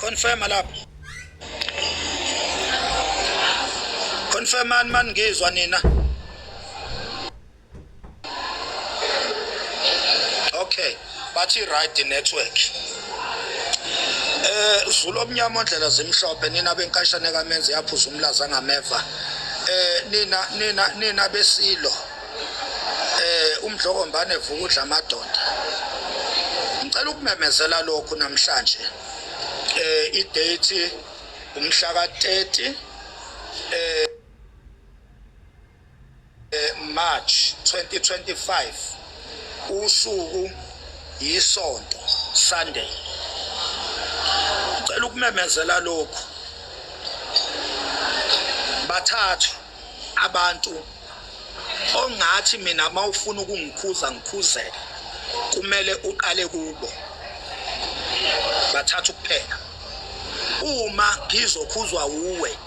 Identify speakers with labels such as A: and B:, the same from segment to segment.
A: Confirma lapho. Confirma man ngizwa nina. Okay, bathi right network. Eh Zulu omnyama ondlela zimhlophe nina benkashane kamenzi yaphuza umlaza ngameva. Eh nina nina nina besilo. eh umdlokombane vuka udla amadoda ngicela ukumemezela lokhu namhlanje eh idate umhla ka-30 eh, eh March 2025 usuku yisonto Sunday ngicela ukumemezela lokhu bathathu abantu ongathi mina uma ufuna ukungikhuza ngikhuzeke kumele uqale kubo bathatha ukuphela uma ngizokhuzwa wuwe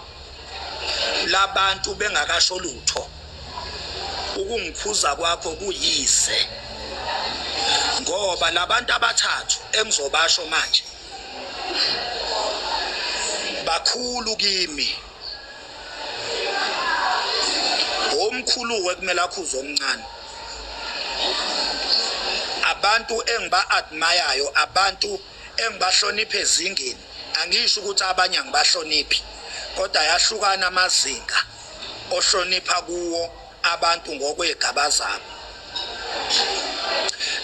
A: labantu bengakasho lutho ukungikhuza kwakho kuyise ngoba labantu abathathu engizobasho manje bakhulu kimi omkhulu wekumele akhuze omncane abantu engiba admire abantu engibahloniphe ezingeni angisho ukuthi abanye angibahloniphi kodwa yahlukana amazinga ohlonipha kuwo abantu ngokwegaba zabo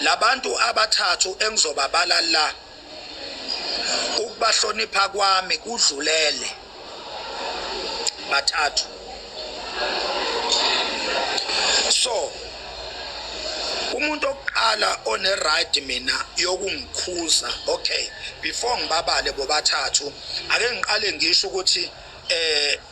A: labantu abathathu engizobabala la ukubahlonipha kwami kudlulele bathathu so umuntu okuqala one right mina yokungikhuza okay before ngibabale bobathathu ake ngiqale ngisho ukuthi eh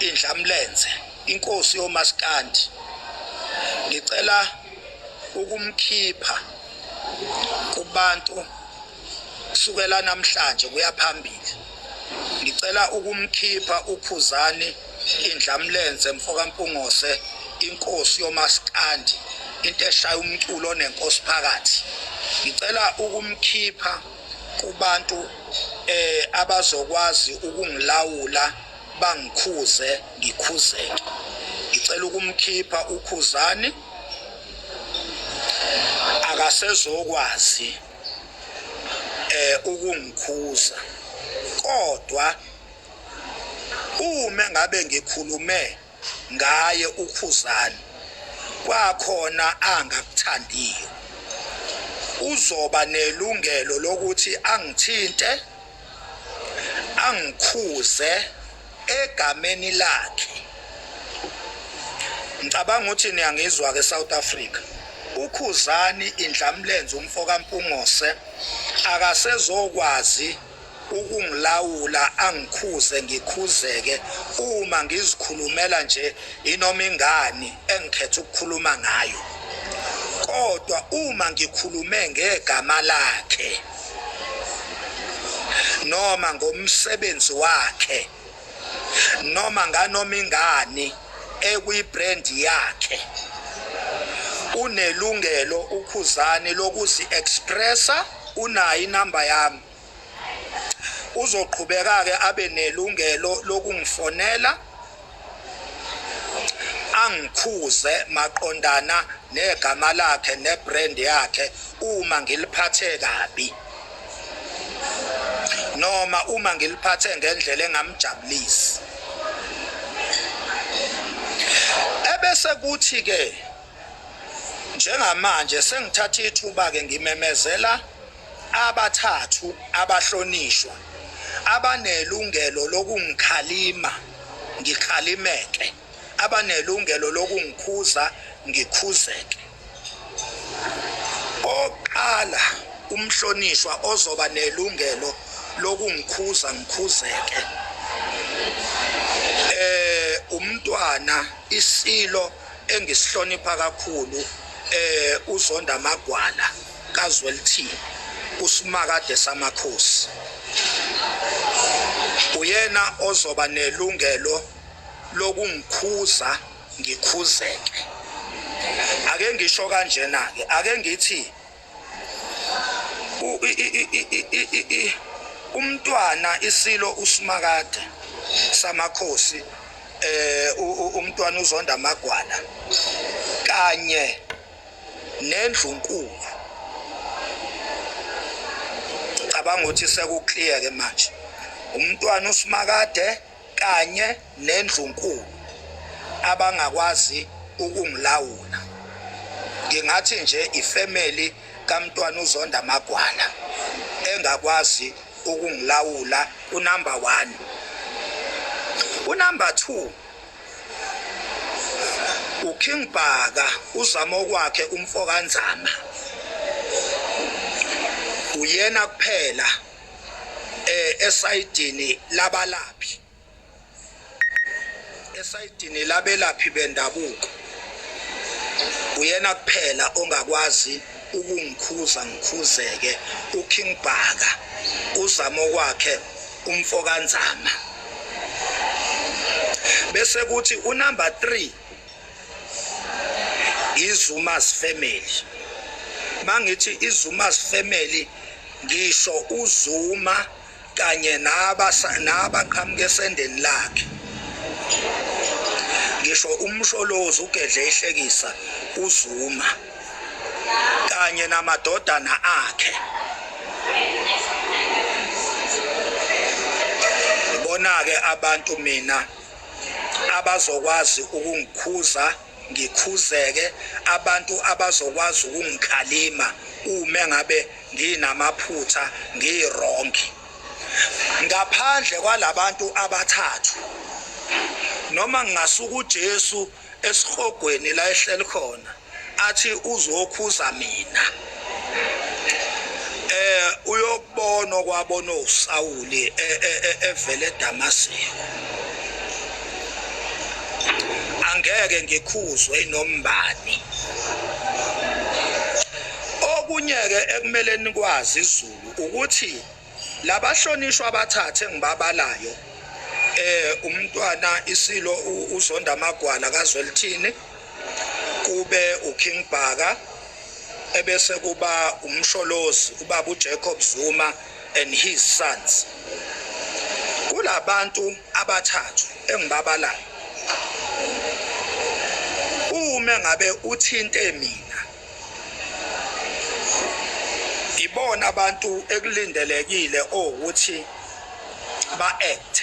A: indlamlenze inkosi yomaskandi ngicela ukumkhipha kubantu kusukela namhlanje kuya phambili ngicela ukumkhipha ukhuzani indlamlenze mfokampungose inkosi yomaskandi into eshaya umculo onenkosi phakathi ngicela ukumkhipha kubantu eh abazokwazi ukungilawula bangikhuze ngikhuzeke ngicela ukumkhipha ukhuzani akasezokwazi eh ukungikhuza kodwa uma ngabe ngikhulume ngaye ukhuzani kwakhona angakuthandiyo uzoba nelungelo lokuthi angithinte angikhuze egameni lakhe ngicabanga ukuthi niyangizwa ke South Africa ukhuzani indlamlenze umfoka mpungose akasezokwazi ukungilawula angikhuze ngikhuzeke uma ngizikhulumela nje inoma ingani engikhetha ukukhuluma ngayo kodwa uma ngikhulume ngegama lakhe noma ngomsebenzi wakhe noma nganoma ingani ekwibrand yakhe unelungelo ukhuzani lokuzi expressa unayo inamba yami uzoqhubeka ke abe nelungelo lokungifonela angikhuze maqondana negama lakhe nebrand yakhe uma ngiliphathe kabi noma uma ngiliphathe ngendlela engamjabulisi ebese kuthi ke njengamanje sengithatha ithuba ke ngimemezela abathathu abahlonishwa abanelungelo lokungikhalima ngikhalimeke abanelungelo lokungikhuza ngikhuzeke. Oqala umhlonishwa ozoba nelungelo lokungikhuza ngikhuzeke. Eh umntwana isilo engisihlonipha kakhulu eh uZonda Magwala kaZwelithini usimakade samakhosi uyena ozoba nelungelo lokungikhuza ngikhuzeke ake ngisho kanjena ke ake ngithi umntwana isilo usimakade samakhosi eh umntwana uzonda amagwala kanye nendlunkulu cabanga ukuthi sekuclear ke manje umntwana usimakade kanye nendlunkulu abangakwazi ukungilawula ngingathi nje ifamily kamntwana uzonda magwala engakwazi ukungilawula unumber 1 unumber 2 uKing Bhaka uzama okwakhe umfokanzama uyena kuphela eh esayidini labalaphi esayidini labelaphi bendabuko uyena kuphela ongakwazi ukungikhuza ngikhuzeke uKing Bhaka uzamo kwakhe umfokanzama bese kuthi unumber 3 izumas family mangithi izumas family ngisho uzuma kanye nabaqhamuka esendeni lakhe ngisho umsholozi ugedle ehlekisa uzuma kanye namadodana akhe bona-ke abantu mina abazokwazi ukungikhuza ngikhuzeke abantu abazokwazi ukungikhalima uma ngabe nginamaphutha ngiwrong ngaphandle kwalabantu abathathu noma ngingasuka uJesu esihogweni la ehleli khona athi uzokhuza mina eh uyokubona kwabona uSawuli e, e, e, evele eDamaseko angeke ngikhuzwe inombani okunye ke ekumele nikwazi izulu ukuthi Labahlonishwa abathathu engibabalayo eh umntwana isilo uzonda amagwala kazwelithini kube uKing Bhaka ebese kuba umsholozi ubaba uJacob Zuma and his sons kulabantu abathathu engibabalayo uma ngabe uthinte mina ibona abantu ekulindelekile ukuthi ba-act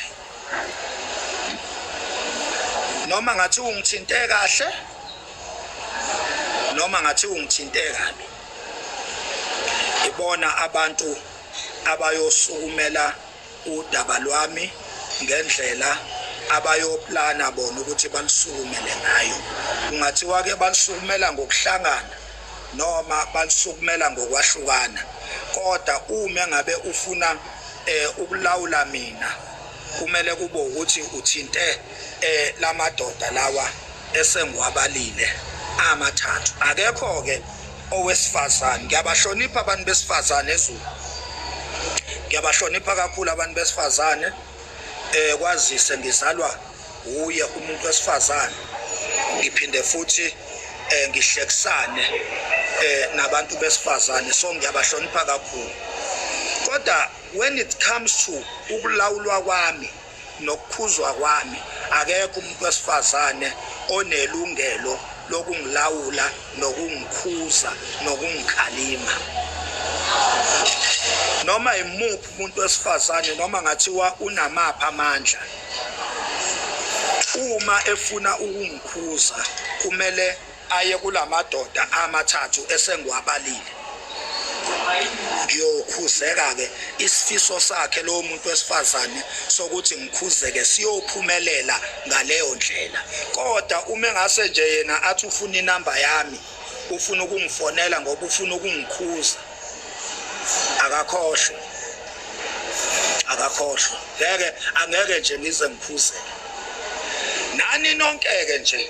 A: noma ngathi ungithinte kahle noma ngathi ungithinte kabi ibona abantu abayosukumela udaba lwami ngendlela abayoplana bona ukuthi balusukumele ngayo kungathiwa ke balusukumela ngokuhlangana noma balusukumela ngokwahlukana kodwa uma ngabe ufuna eh ukulawula mina kumele kube ukuthi uthinte eh lamadoda lawa esengiwabalile amathathu akekho ke owesifazane ngiyabahlonipha abantu besifazane ezulu ngiyabahlonipha kakhulu abantu besifazane eh kwazise ngizalwa uye umuntu wesifazane ngiphinde futhi eh ngihlekisane eh nabantu besifazane so ngiyabahlonipha kakhulu kodwa when it comes to ukulawulwa kwami Nokukhuzwa kwami akekho umuntu wesifazane onelungelo lokungilawula nokungikhuza nokungikhalima noma imuphi umuntu wesifazane noma ngathiwa unamaphi amandla uma efuna ukungikhuza kumele aye kulamadoda amathathu esengiwabalile ngiyokhuzeka-ke isifiso sakhe lowo muntu wesifazane sokuthi ngikhuzeke siyophumelela ngaleyo ndlela kodwa uma engase nje yena athi ufuna inamba yami ufuna ukungifonela ngoba ufuna ukungikhuza akakhohlwe akakhohlwe ngeke angeke nje ngize ngikhuzeke nani nonke-ke nje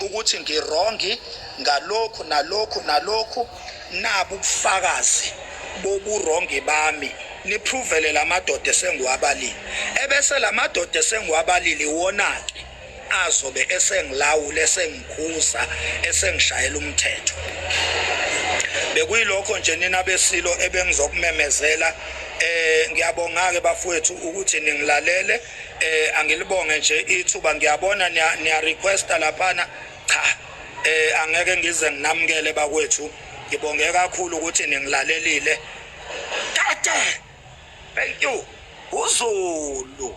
A: ukuthi ngirongi ngalokhu nalokhu nalokhu nabu ubufakazi boburongi bami niphrovele la madoda esengiwabalile ebese la madoda esengiwabalile iwona-ke azobe esengilawula esengikhuza esengishayela umthetho bekuyilokho nje nina besilo ebengizokumemezela eh ngiyabonga ke bafowethu ukuthi ningilalele eh angilibonge nje ithuba ngiyabona niya requesta laphana cha eh angeke ngize nginamukele bakwethu ngibonge kakhulu ukuthi ningilalelile tata thank you uzulu